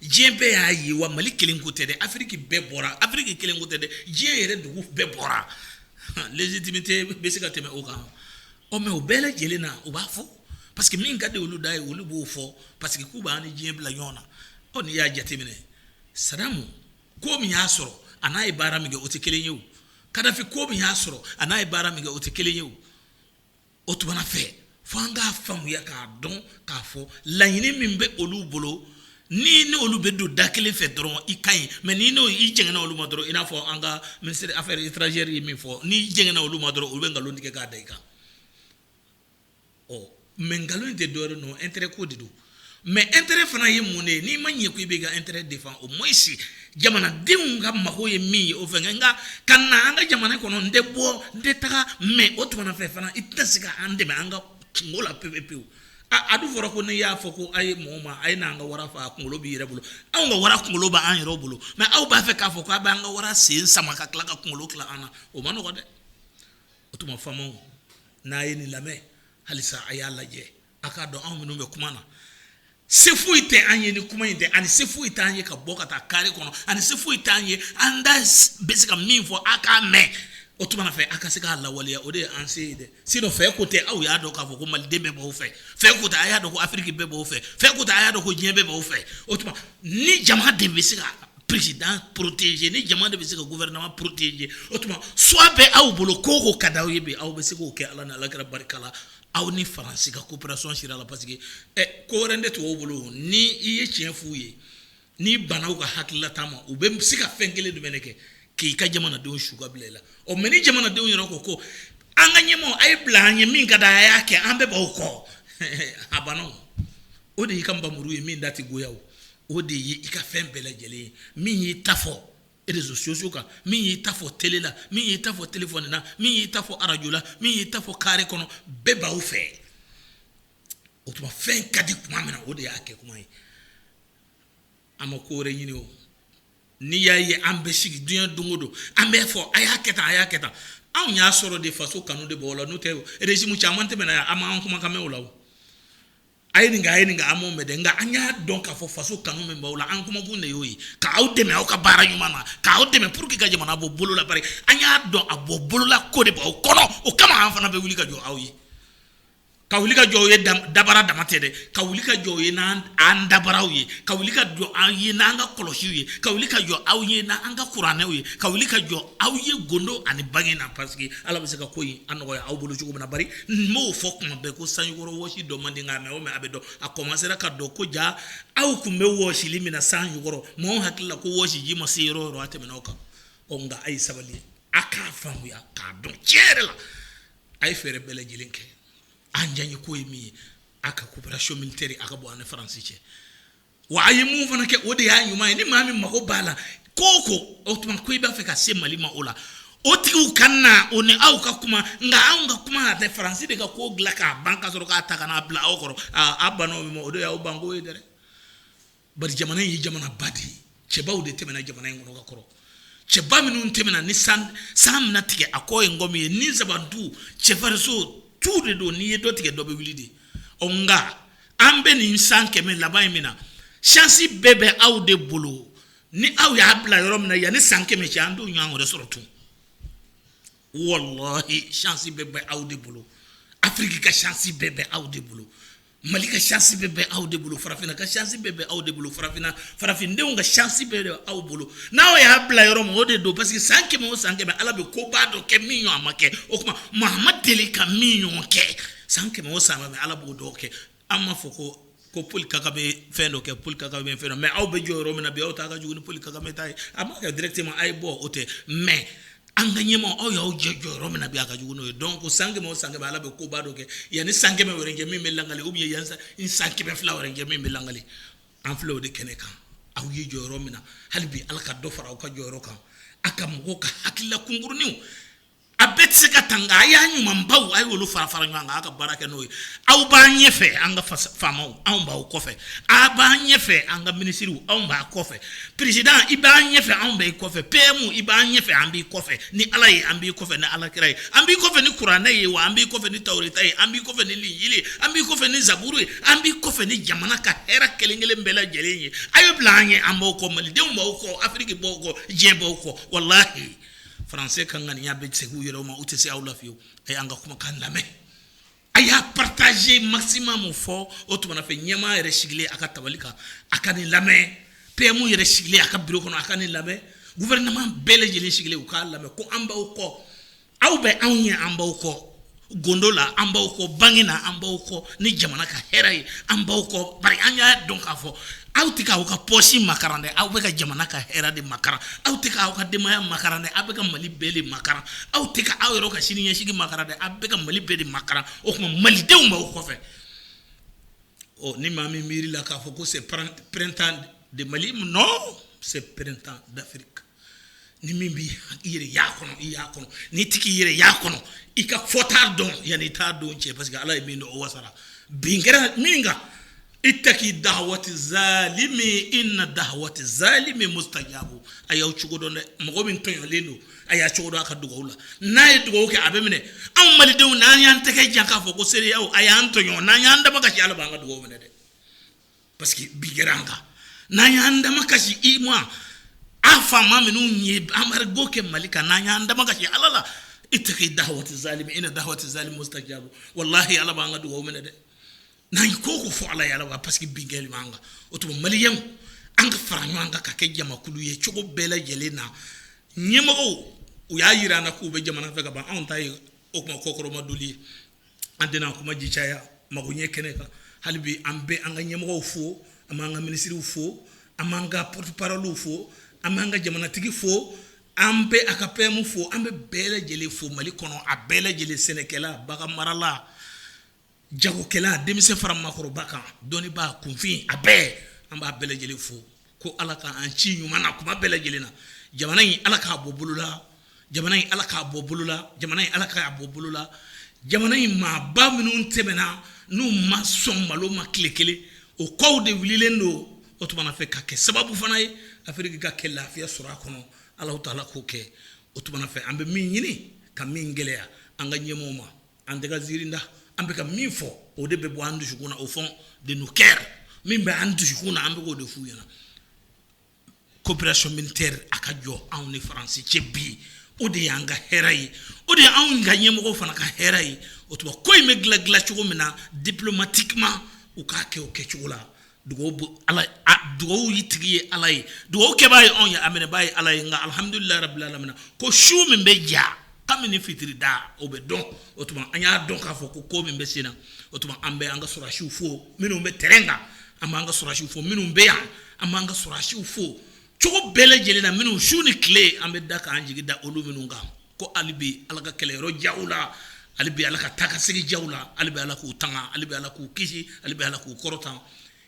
diɲɛ bɛɛ y'a ye wa mali kelen ko tɛ dɛ afiriki bɛɛ bɔra afiriki kelen ko tɛ dɛ diɲɛ yɛrɛ dugu bɛɛ bɔra légitimité bɛ se ka tɛmɛ o kan ɔ mais o bɛɛ lajɛlen na u b'a fɔ parce que min ka di olu da ye olu b'o fɔ parce que k'u b'an ni diɲɛ bila ɲɔgɔn na ɔ n'i y'a jateminɛ sadamu ko min y'a sɔrɔ a n'a ye baara min kɛ o tɛ kelen ye o kadafi ko min y'a sɔrɔ a n'a ye baara min kɛ o tɛ kelen ye o o tuma fɛ fo an k'a faamuya k'a dɔn k'a fɔ laɲini min bɛ olu bolo n'i ni olu bɛ don da kelen fɛ dɔrɔn i ka ɲi mais ni n'o i jɛngɛna olu ma dɔrɔn i n'a fɔ an ka ministre des affaires étrangères ye min fɔ n'i jɛngɛna olu ma dɔrɔn olu bɛ nkalon tigɛ k'a da i kan ɔ mais nkalon tɛ dɔrɔn don intérêt ko de don mais intérêt fana ye mun ye n'i ma ɲɛ ko i bɛ ka intérêt défend au moins i jamanadenw ka mago ye min ye o fɛ nka ka na an ka jamana kɔnɔ n tɛ bɔ n tɛ taga mais o tuma fɛ fana i tɛ se ka an dɛmɛ an ka kunko la pe pewu a dun fɔra ko ne y'a fɔ ko a ye mɔgɔ ma a ye n'an ka wara faa a kunkolo b'i yɛrɛ bolo anw ka wara kunkolo b' an yɛrɛ bolo mais aw b'a fɛ k'a fɔ k'a bɛ an ka wara sen sama ka tila ka kunkolo tila an na o ma nɔgɔ dɛ o tuma faamaw n'a ye nin lamɛn halisa a y'a lajɛ A k'a dɔn anw minnu bɛ kuma na se foyi tɛ an ye ni kuma in tɛ ani se foyi tɛ an ye ka bɔ ka taa kare kɔnɔ ani se foyi tɛ an ye an da bɛ se ka min fɔ a k'a mɛn o tuma fɛ a ka se k'a lawaleya o de ye an se ye dɛ sinon fɛ ko tɛ aw y'a dɔn k'a fɔ ko maliden bɛɛ b'aw fɛ fɛ ko tɛ a y'a dɔn ko afiriki bɛɛ b'aw fɛ fɛ ko tɛ a y'a dɔn ko diɲɛ bɛɛ b'aw fɛ o tuma ni jama de bɛ se ka président protéger ni jama de bɛ se ka gouvernement protéger o tuma choix bɛ aw bolo ko o ko ka di aw ye bi aw bɛ se k'o kɛ ala ni alakira barika la aw ni faransi ka coopération sira la parce que ɛ ko wɛrɛ de t'u bolo ni i ye tiɲɛ f'u ye ni i banna u ka hakilila ta ma u bɛ se ka fɛn kelen jumɛn de kɛ k'i ka jamanadenw su ka bila i la ɔ mɛ ni jamanadenw yɛrɛ ko ko an ka ɲɛmɔgɔ a ye bila an ɲɛ min ka d'a ye a kɛ an bɛɛ b'aw kɔ a banna o de y'i ka npanmuru ye min da tɛ goya o de ye i ka fɛn bɛɛ lajɛlen ye min y'i ta fɔ réseaux sociaux kan min y'i ta fɔ tele la min y'i ta fɔ telefɔni na min y'i ta fɔ arajo la min y'i ta fɔ kare kɔnɔ bɛɛ b'aw fɛ o tuma fɛn ka di tuma min na o de y'a kɛ kuma ye an ma ko wɛrɛ ɲini o n'i y'a ye an bɛ sigi diɲɛ don o don an b'a fɔ a y'a kɛ tan a y'a kɛ tan anw y'a sɔrɔ de faso kanu de b'o la n'o tɛ rezimu caman tɛmɛna yan a m'an kumakan mɛn o la o a ye nin kɛ a ye nin kɛ an m'o mɛn dɛ nka an y'a dɔn k'a fɔ faso kanu min b'aw la an kumakun de y'o ye k'aw dɛmɛ aw ka baara ɲuman na k'aw dɛmɛ pour que ka jamana bɔ bolo la bari an y'a dɔn a bɔ bolo la ko de b'aw kɔnɔ o kama an fana bɛ wuli ka jɔ aw ye ka wuli ka jɔ aw ye dabara dama tɛ dɛ ka wuli ka jɔ ye n'an dabaraw ye ka wuli ka jɔ aw ye n'an ka kɔlɔsiw ye ka wuli ka jɔ aw ye n'an ka kuranɛw ye ka wuli ka jɔ aw ye gundo ani bange na parce que ala bɛ se ka ko in nɔgɔya aw bolo cogo min na n b'o fɔ kuma bɛɛ ko sanjikɔrɔ wɔsi dɔn man di nka mɛɛn o mɛɛn a bɛ dɔn a kɔmansera ka dɔn ko jaa aw tun bɛ wɔsili min na sanjikɔrɔ maaw hakili la ko wɔsiji ma se yɔrɔ o yɔrɔ a tɛmɛna o kan ɔ nka a ye sabali a k'a faamuya k'a dɔn tiɲɛ yɛrɛ la a ye fɛɛrɛ bɛɛ lajɛlen kɛ an diyanyeko ye min ye a ka coopération militaire a ka bɔ an ni faransi cɛ Wa a ye mun fana kɛ o de y'a ɲuman ye ni maa min mago b'a la ko ko o tuma ko i b'a fɛ ka se mali ma o la o tigiw ka na o ni aw ka kuma nka anw ka kuma tɛ faransi de ka ko dilan k'a ban ka sɔrɔ k'a ta ka n'a bila aw kɔrɔ a banna o min ma o de y'aw banko ye dɛ bari jamana in ye jamana ba de ye cɛbaw de tɛmɛna jamana in kɔnɔ ka kɔrɔ cɛba minnu tɛmɛna ni san mana tigɛ a kɔ ye ngɔmi ye ni nsaban tu cɛfarinso tu de don n'i ye dɔ tigɛ dɔ bɛ wuli de ɔ nka an bɛ nin san kɛmɛ laban in min na chance bɛɛ bɛ aw de bolo ni aw y'a bila yɔrɔ min na yanni san kɛmɛ cɛ an t'o ɲɔgɔn wɛrɛ sɔrɔ tun wallahi chance bɛɛ bɛ aw de bolo afiriki ka chance bɛɛ bɛ aw de bolo mali ka chance bɛɛ bɛ aw de bolo farafinna ka chance bɛɛ bɛ aw de bolo farafinna farafindenw ka chance bɛɛ bɛ aw bolo n'aw y'a bila yɔrɔ min o de don parce que san kɛmɛ o san kɛmɛ ala bɛ ko ba dɔ kɛ min ɲɔgɔn ma kɛ o tuma maa ma deli ka min ɲɔgɔn kɛ San kɛmɛ o san kɛmɛ ala b'o dɔw kɛ an b'a fɔ ko ko Paul Kagame fɛn dɔ kɛ Paul Kagame fɛn dɔ mais aw bɛ jɔ yɔrɔ min na bi aw ta ka jugu ni Paul Kagame ta ye a ma kɛ directement a ye bɔ o tɛ mais an ka ɲɛmaa aw y'aw jɔ yɔrɔ min na bi a ka jugu n'o ye donc san kɛmɛ o san kɛmɛ ala bɛ koba dɔ kɛ yanni san kɛmɛ wɛrɛ kɛ min bɛ lakali ou bien yanni san kɛmɛ fila wɛrɛ kɛ min bɛ lakali an filɛ o de kɛnɛ kan aw ye jɔ yɔrɔ min na hali bi ala ka dɔ fara aw ka jɔyɔrɔ kan a ka mɔgɔw ka hakilila kunkuruninw a bɛɛ tɛ se ka ta nka a y'a ɲumanbaw a y'olu fara fara ɲɔgɔn kan a ka baara kɛ n'o ye aw b'an ɲɛfɛ an ka faamaw anw b'aw kɔfɛ a b'an ɲɛfɛ an ka minisiriw anw b'a kɔfɛ peresidan i b'an ɲɛfɛ anw b'i kɔfɛ PM i b'an ɲɛfɛ an b'i kɔfɛ ni ala ye an b'i kɔfɛ ni ala kira ye an b'i kɔfɛ ni kuranɛ ye wa an b'i kɔfɛ ni tawureta ye an b'i kɔfɛ ni linjili ye an b'i kɔfɛ ni zaburu ye an b'i kɔfɛ ni jamana ka hɛrɛ kelenkelen bɛɛ lajɛlen ye a ye bila an ɲɛ an b'aw kɔ malidenw b'aw kɔ afiriki b'aw kɔ diɲɛ b'aw kɔ walahi Français ka ŋaniya bɛ segin u yɛrɛ ma u tɛ se aw la fiyew a y'an ka kumakan lamɛn a y'a partager maximum fo o tumana fɛ ɲɛmaa yɛrɛ sigilen a ka tabali kan a ka nin lamɛn PM yɛrɛ sigilen a ka bureau kɔnɔ a ka nin lamɛn gouvernement bɛɛ lajɛlen sigilen u k'a lamɛn ko an b'aw kɔ aw bɛ anw ɲɛ an b'aw kɔ gundo la an b'aw kɔ bange na an b'aw kɔ ni jamana ka hɛrɛ ye an b'aw kɔ bari an y'a dɔn k'a fɔ aw tɛ k'aw ka pɔsi makaran dɛ aw bɛ ka jamana ka hɛrɛ de makaran aw tɛ k'aw ka denbaya makaran dɛ aw bɛ ka mali bɛɛ de makaran aw tɛ ka aw yɛrɛ ka sini ɲɛsigi makaran dɛ aw bɛ ka mali bɛɛ de makaran o tuma malidenw b'aw kɔfɛ ɔ ni maa min miiri la k'a fɔ ko c'est printemps de mali non c'est printemps d'Afrique ni min bɛ i yɛrɛ y'a kɔnɔ i y'a kɔnɔ ni tigi i yɛrɛ y'a kɔnɔ i k'a fɔ t'a dɔn yan i t'a dɔn cɛ parce que ala ye min dɔn o wasara bin kɛra min kan ittaki dawati zalimi inna dawati zalimi mustajabu a y'aw cogo dɔn dɛ mɔgɔ min tɔɲɔlen don a y'a cogo dɔn a ka dugawu la n'a ye dugawu kɛ a bɛ minɛ anw malidenw n'an y'an tɛgɛ jan k'a fɔ ko CEDEAO a y'an tɔɲɔ n'an y'an da makasi ala b'an ka dugawu minɛ dɛ parce que bin kɛra an kan n'an y'an da makasi i ma an faama minnu ye embargo kɛ mali kan n'an y'an da makasi ala la ittaki dawati zalimi inna dawati zalimi mustajabu walahi ala b'an ka dugawu minɛ dɛ n'an ko ko fɔ ala ye ala parce que bin kɛlen b'an kan o tuma maliyɛnw an ka fara ɲɔgɔn kan ka kɛ jamakulu ye cogo bɛɛ lajɛlen na ɲɛmɔgɔw u y'a jira an na k'u bɛ jamana fɛ ka ban anw ta ye o tuma kɔkɔrɔmadoli ye an tɛna kuma ji caya mago ɲɛ kɛnɛ kan hali bi an bɛ an ka ɲɛmɔgɔ fo an b'an ka minisiriw fo an b'an ka porte-parole fo an b'an ka jamanatigi fo an bɛ a ka PM fo an bɛ bɛɛ lajɛlen fo mali kɔnɔ a bɛɛ lajɛlen sɛnɛkɛla baganmarala jagokɛla denmisɛn fara maakɔrɔba kan dɔnnibaa kunfin a bɛɛ an b'a bɛɛ lajɛlen fo ko ala k' an ci ɲuman na kuma bɛɛ lajɛlen na jamana in ala k'a bɔ bolola jamana in ala k'a bɔ bolola jamana in ala k'a bɔ bolola jamana in maaba minnu tɛmɛna n'u ma sɔn malo ma tile kelen o kɔw de wililen don o tuma fɛ ka kɛ sababu fana ye afiriki ka kɛ lafiya sɔrɔ a kɔnɔ alahu taala k'o kɛ o tuma fɛ an bɛ min ɲini ka min gɛlɛya an ka ɲɛmaaw ma An tɛ ka ziirin da, an bɛ ka min fɔ, o de bɛ bɔ an dusukun na au fond de nos coeurs min bɛ an dusukun na, an bɛ k'o de f'u ɲɛna. Coopération militaire a ka jɔ anw ni France cɛ bi, o de y'an ka hɛrɛ ye, o de ye anw ka ɲɛmɔgɔ fana ka hɛrɛ ye, o tuma ko in bɛ dilan dilan cogo min na diplomatiquement u k'a kɛ o kɛcogo la. dugawu in tigi ye ala ye dugawukɛbaa ye anw ye a minɛbaa ye ala ye nka alihamdulilahi rabilalamina ko su min bɛ diya kabini fitiri da o bɛ dɔn o tuma an y'a dɔn k'a fɔ ko ko min bɛ sen na o tuma an bɛ an ka sɔrɔsiw fo minnu bɛ tɛrɛn kan an b'an ka sɔrɔsiw fo minnu bɛ yan an b'an ka sɔrɔsiw fo cogo bɛɛ lajɛlen na minnu su ni tile an bɛ da k'an jigi da olu minnu kan ko ali bɛ ala ka kɛlɛyɔrɔ diya u la ali bɛ ala ka taa ka segin diya u la ali bɛ ala k'u tanga ali bɛ ala k'u kisi ali bɛ ala k'u kɔrɔta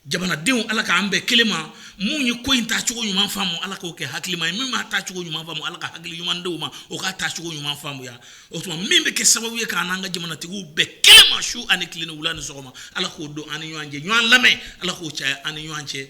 jamanadenw ala k'an bɛn kelen ma minnu ye ko in ta cogo ɲuman faamu ala k'o kɛ hakilima ye min m'a ta cogo ɲuman faamu ala ka hakili ɲuman d'o ma o k'a ta cogo ɲuman faamuya o tuma min bɛ kɛ sababu ye k'an n'an ka jamanatigiw bɛn kelen ma su ani tile ni wula ni sɔgɔma ala k'o don an ni ɲɔgɔn cɛ ɲɔgɔn lamɛn ala k'o caya an ni ɲɔgɔn cɛ